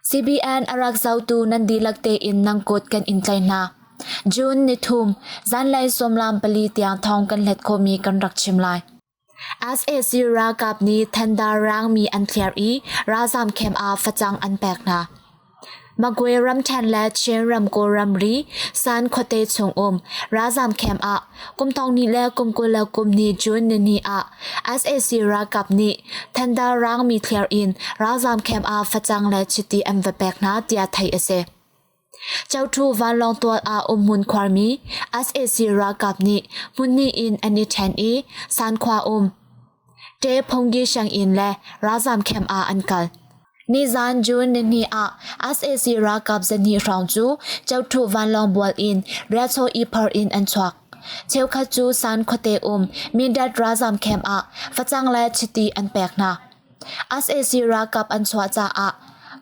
CBN arak zotu nan dihlak tein nang kut kan in tlaih hna. June ni thum, zanlei sawmlam pali tiang thawng kan hlet khomi kan rak chim lai. sac ralkap nih thendarrang mi an thliar i ralzaam camp ah facang an pek hna. Magway ramṭhen le Chinram kawlramri San khuate chung um ralzaam camp ah kum thong ni le kum kul le kum ni June nini ah sac ralkap nih thendarrang mi thliar in ralzaam camp ah facang le chiti an va pek hna tiah theih a si. Chotu vanlawng tual ah umhmun khuarmi sac ralkap nih hmunhnih in an i ṭhen i Sankhua um Ṭe Phongyi sianginn le ralzam camp ah an kal. Nizan June nihnih ah sac ralkap zahnih hrawng cu Chotu vanlawng bual in riahchaw iphar in an chuak. Cheukhat cu San khuate um Mindat ralzam camp ah facang le chiti an pek hna. sac ralkap an chuah caah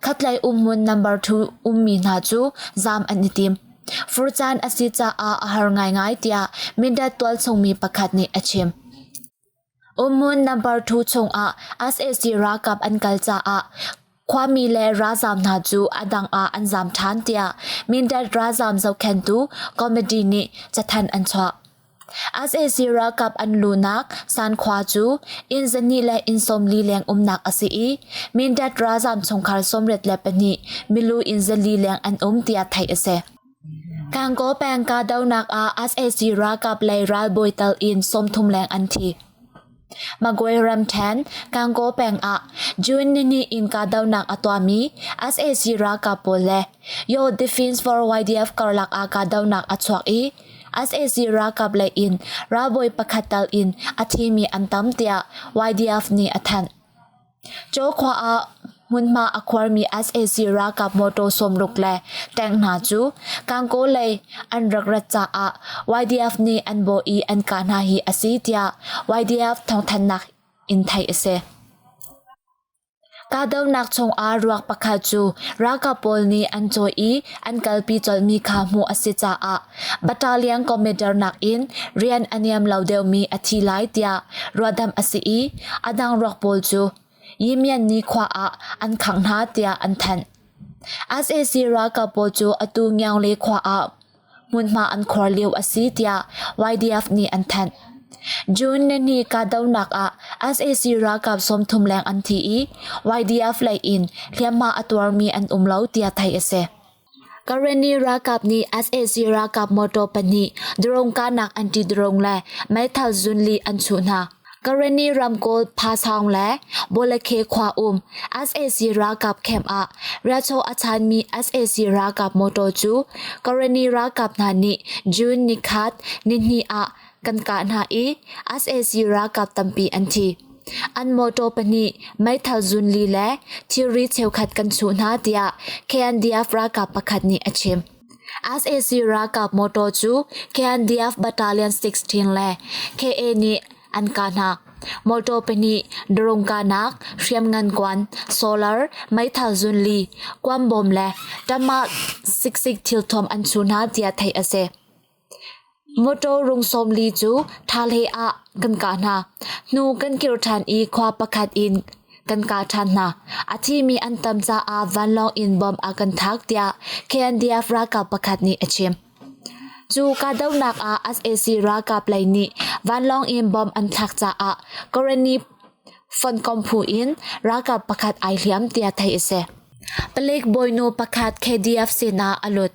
khatlei umhmun number two ummi hna cu zaam an i tim. Furcaan a si caah a har ngaingai tiah Mindat tualchungmi pakhat nih a chim. Umhmun number two chungah sac ralkap an kal caah khuami le ralzaam hna cu a dang ah an zaam ṭhan tiah Mindat ralzaam zohkhenhtu committee nih cathanh an chuah. sac ralkap an luhnak Sankhua cu inn zahnih le inn sawmli leng umnak a si i Mindat ralzaam chungkhar sawmriat le pahnih milu inn zali leng an um tiah theih a si. Gangaw peng kahdohnak ah sac ralkap lei ralbawi tal in sawmthum leng an thi. Magway ramṭhen, Kangaw peng ah June nini in kahdohnak a tuahmi sac ralkap pawl le Yaw Defence for YDF karlak ah kahdohnak a chuak i sac ralkap lei in ralbawi pakhat tal in a thi mi an tam tiah YDF nih a thanh. Caw khua ah hmunhma a khuarmi sac ralkap mawṭaw sawmruk le tank hna cu Kankaw lei an rak rat caah YDF nih an bawh i an kah hna hi a si tiah YDF thawngthanhnak in theih a si. Kahdohnak chungah ruak pakhat cu ralkap pawl nih an cawih i an kalpi colhmi kha hmuh a si caah Battalion commander nakin rian a niam lo deuhmi a thi lai tiah ruahdamh a si i a dang ruak pawl cu Yimyanni khua ah an khangh hna tiah an thanh. SAC ralkap pawl cu atu Ngyangle khua ah hmunhma an khor lio a si tiah YDF nih an thanh. June nihni kahdohnak ah SAC ralkap sawmthum leng an thi i YDF lei in hliamhma a tuarmi an um lo tiah theih a si. Kareni ralkap nih sac ralkap motor pahnih drone kahnak anti drone le meithal zun li an chuh hna. Kareni ramkawl Phasaung le Bolekhe khua um sac ralkap camp ah riahchaw a chanmi sac ralkap motor cu Kareni ralkap hna nih June ni khat nihnih ah Kan kah hna i sac ralkap tampi an thi. An mawṭaw pahnih, meithal zun li le thilri cheukhat kan chuh hna tiah KNDF ralkap pakhat nih a chim. sac ralkap mawṭaw cu KNDF Battalion 16 le KA nih an kah hna. Mawṭaw pahnih, drone kahnak, hriamngan kuan, solar, meithal zun li, kuam bom le ṭamah siksik thilthuam an chuh hna tiah theih a si. Mawṭaw rung sawmli cu ṭha hleiah kan kah hna. Hnu kan kir ṭhan i khua pakhat in kan kah ṭhan hna. A thimi an tam caah vanlawng in bom a kan thaak tiah KNDF ralkap pakhat nih a chim. Cu kahdohnak ah sac ralkap lei nih vanlawng in bom an thlak caah Korani fonkom phu in ralkap pakhat ai hliam tiah theih a si. Palik bawinu pakhat KDF sinah a lut.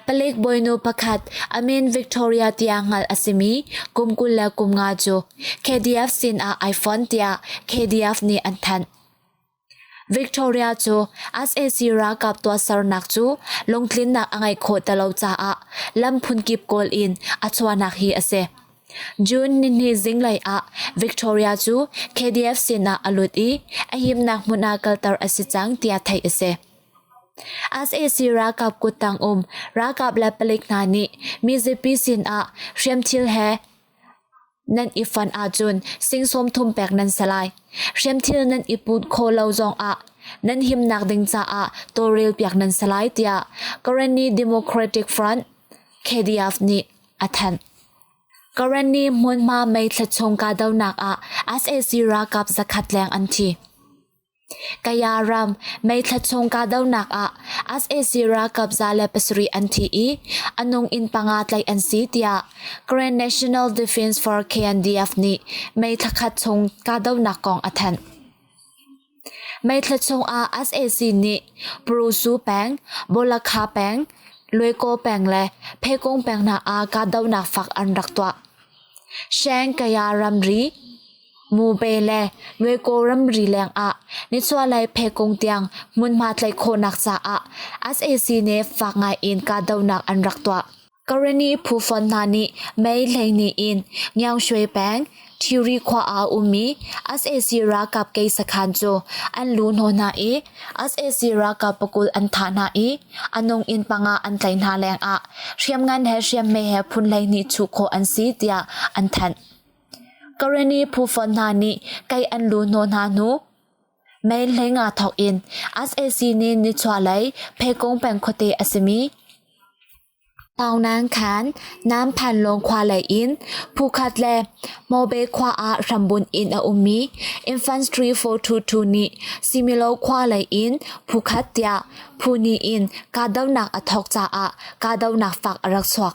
Palik bawinu pakhat a min Victoria tiah hngalh a simi kum kul le kum nga cu KDF sinah ai fon tiah KDF nih an thanh. Victoria cu sac ralkap tuahsernak cu lungtlinnak a ngeih khawh ti lo caah lam phunkip kawl in a chuahnak hi a si. June nihni zinglei ah Victoria cu KDF sinah a lut i a himnak hmun ah kalter a si cang tiah theih a si. sac ralkap kuttang um ralkap le palik hna nih mizapi sinah hriamthil he nan i fonh ahcun sing sawmthum pek nan si lai. Hriamthil nan i put khawh lo zongah nan himnak ding caah tawlrel piak nan si lai tiah Karenni Democratic Front KDF nih a thanh. Karenni hmunhma mei thlet chung kahdohnak ah sac ralkap zakhat leng an thi. Kaya ram meithla chung kahdohnak ah sac ralkap za le pasarih an thi i a nung inn panga tlaih an si tiah Grand National Defense for KNDF nih meithla khat chung kahdohnak kong a thanh. Meithla chung ah sac nih Purusu peng, Bolakha peng, Luikaw peng le Phekung peng hna ah kahdohnak fak an rak tuah. Sheng Kaya ramri Mupe le Muiko ramri lengah nichuahlei phekung tiang hmunhma tlaih khawhnak caah sac nih fak ngaiin kahdohnak an rak tuah. Kareni phu fon hna nih Mei hleihnih in Ngyangshui peng Thiri khua ah a ummi sac ralkap kei sakhan cu an lu hnawh hna i sac ralkap pakul an thah hna i a nung inn panga an tlaih hna lengah hriamngan he hriammei he phun hleihnih chuh khawh an si tiah an thanh. Karen i phufonh hna nih kei an lu hnawh hna hnu, mei hleinga thawk in sac nih nichuahlei Phekung peng khuate a simi Taungnan khan Namphanlawng khua lei in phukhat le Mobe khua ah hrambunh in a ummi Infantry 422 nih Similo khua lei in phukhat tiah phu hnih in kahdohnak a thawk caah kahdohnak fak a rak chuak.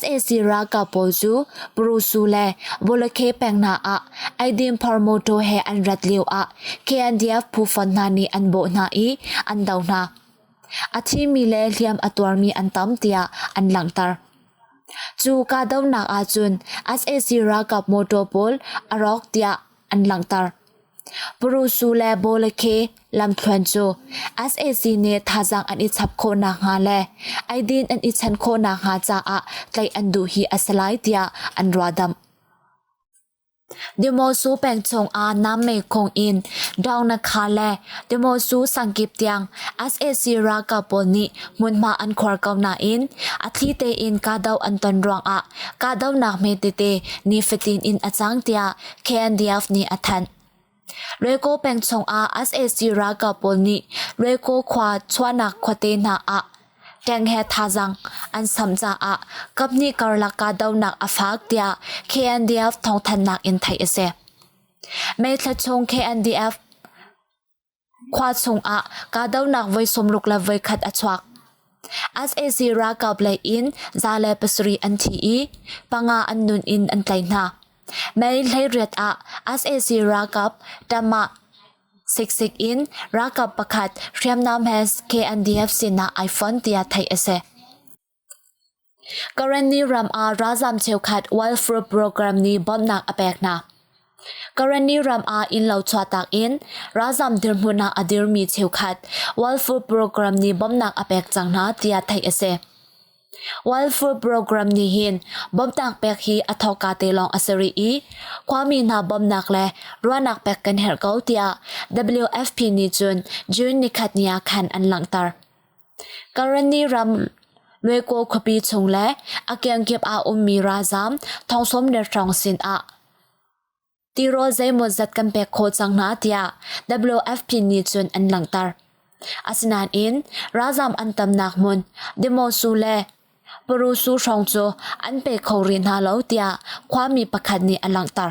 sac ralkap pawl cu Purusu le Bulakheh peng hna ah eidin phar mawṭaw he an rat lioah KNDF phufonh hna nih an bawh hna i an do hna. A thimi le hliam a tuarmi an tam tiah an langhter. Cu kahdohnak ahcun sac ralkap mawṭaw pawl a rawk tiah an langhter. Parusu le Bawle khi lamthluan cu sac nih thazaang an i chap khawh nakhnga le eidin an i chan khawh nakhnga caah tlaih an duh hi a si lai tiah an ruahdamh. Dimosu peng chungah nam mekhong in Daunakha le Dimosu sangkip tiang sac ralkap pawl nih hmunhma an khuar ko nain a thli tein kahdoh an ton ruangah kahdohnak hme tete nifatin in a cang tiah KNDF nih a thanh. Reko peng chungah sac ralkap pawl nih Reko khua chuahnak khuate hna ah tank he thazaang an samh caah kaphnih karlak kahdohnak a faak tiah KNDF thawngthanhnak in theih a si. May thla chung KNDF Khua chungah kahdohnak voi sawmruk le voikhat a chuak. sac ralkap lei in za le pasarih an thi i panga an nun in an tlaih hna. Mei hleiriat ah sac ralkap Tamah siksik in ralkap pakhat hriamnam he KNDF sinah ai fonh tiah theih a si. Karenni ram ah ralzam cheukhat welfare program nih bawmhnak a pek hna. Karenni ram ah innlo chuahtak in ralzam dirhmun ah a dirmi cheukhat welfare program nih bawmhnak a pek cang hna tiah theih a si. Welfare program nih hin bawmhnak pek hi a thawka te lawng a si rih i khuami hna bawmhnak le ruahnak pek kan herh ko tiah WFP nih cun June nikhat ni ah khan an langhter. Karenni ram Lwekaw khuapi chung le a kiangkip ah ummi ralzaam thong sawm le hrawng sinah tirawl zeimawzat kan pek khawh cang hna tiah WFP nih cun an langhter. Asinain ralzaam an tamnak hmun Dimosu le Parusu hrawng cu an pe kho rih hna lo tiah khuami pakhat nih a langhter.